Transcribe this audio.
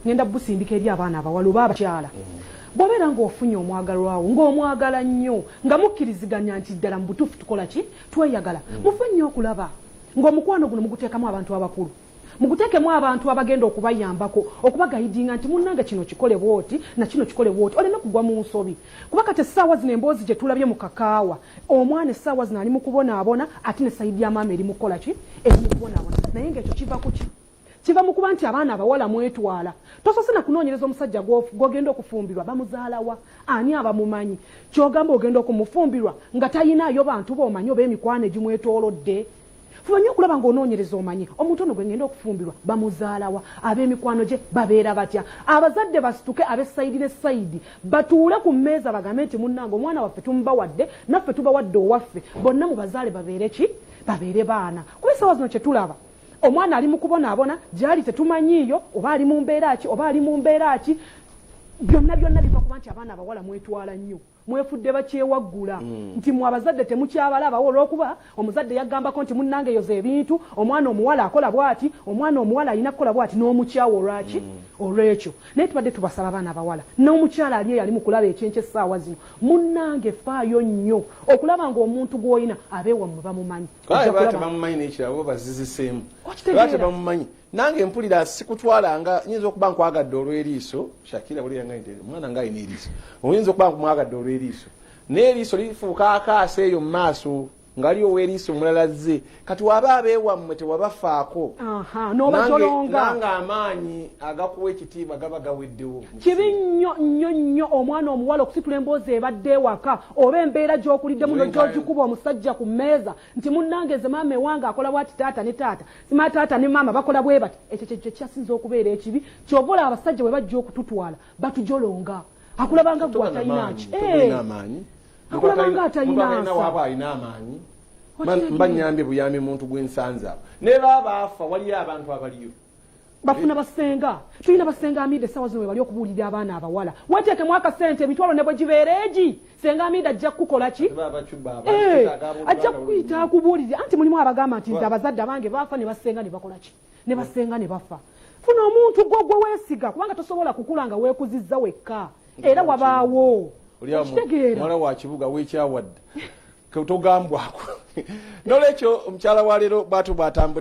ngenda busindika eri abaana abawala oba abakyala bwobeera ngaofunye omwagalwawo ngaomwagala nnyo nga mukkiriziganya nti ddala mu butuufu tukola ki tweyagala mm. mufe nnyo okulaba ngaomukwano guno muguteekamu abantu abakulu muguteekemu abantu abagenda okubayambako okubagayidinga nti munnange kino kikole bwoti nakino kikole bwoti oleme kugwa mu nsobi kuba kati essaawa zino emboozi gye tulabye mu kakaawa omwana essaawa zino ali mu kubonaabona ate ne sayidi ya maama eri mu kukola ki eri mu kubonaabona naye ngaekyo kiva ku ki kiva mu kuba nti abaana abawala mwetwala tosose na kunoonyereza omusajja gwogenda okufumbirwa bamuzaalawa ani abamumanyi kyogamba ogenda okumufumbirwa nga tayinaayo bantu boomanyi oba emikwano egimwetoolodde fuba nnyo okulaba ng'onoonyereza omanyi omuntu ono gwe ngenda okufumbirwa bamuzaalawa ab'emikwano gye babeera batya abazadde basituke ab'essayidi ne sayidi batuule ku mmeeza bagambe nti munnange omwana waffe tumubawadde naffe tubawadde owaffe bonna mu bazaale babeere ki babeere baana kuba essaawa zino kye tulaba omwana ali mu kubonaabona gyali tetumanyiiyo oba ali mu mbeera ki oba ali mu mbeera ki byonna byonna biva kuba nti abaana abawala mwetwala nnyo mwefudde bakyewaggula mm. nti mwe abazadde temukyabalabawo olwokuba omuzadde yagambako nti munnange yoza ebintu omwana omuwala akola bwati omwana omuwala alina kukola bwati n'omukyawa olwaki mm. olwekyo naye tubadde tubasaba abaana abawala n'omukyala ali eyali mu kulaba ekyenkyo essaawa zino munnange faayo nnyo okulaba ng'omuntu gw'olina abeewammwe bamumanyi batebamumanyi nange mpulira sikutwala nga nyinza okuba nkwagadde olweriiso shakira mwana nga alina eriiso oyinza okuba nkumwagadde olweriiso naye eriiso lifuuka akaasa eyo mu maaso ngali oweriiso omulala zze kati waba abeewammwe tewabafaako nanga amaanyi agakuwa ekitiibwa gaba gaweddewo kibi nnyo nnyo nnyo omwana omuwala okusitula emboozi ebadde ewaka oba embeera gyokuliddemu no gyogikuba omusajja ku mmeeza nti munnange nze maama ewange akola bwati taata ne taata sima taata ne maama bakola bwe bati ekyo kyekyo kyasinza okubeera ekibi kyova olaba abasajja bwe bajja okututwala batujolonga akulabanga gwe atayinaki eh. akulabanga atayinasaabaayinaamaanyi mbanyambye buyambi muntu gwensanzaawo ne baabaafa waliyo abantu abaliyo bafuna basenga tulina basenga amida esawa zino webali okubuulira abaana abawala weteekemu akasente emitwalo ne bwe gibeera egi senga amida ajja kukukola ki eh, ajja kukuyita akubuulire anti mulimu abagamba nti nze abazadde abange bafa ne basenga ne bakola ki ne basenga ne bafa funa omuntu gwo gwe weesiga kubanga tosobola kukula nga weekuzizza wekka era wabaawo mwana wa kibuga wekyawadde togambwako nolwekyo omukyala wa leero bwatu bwatambudde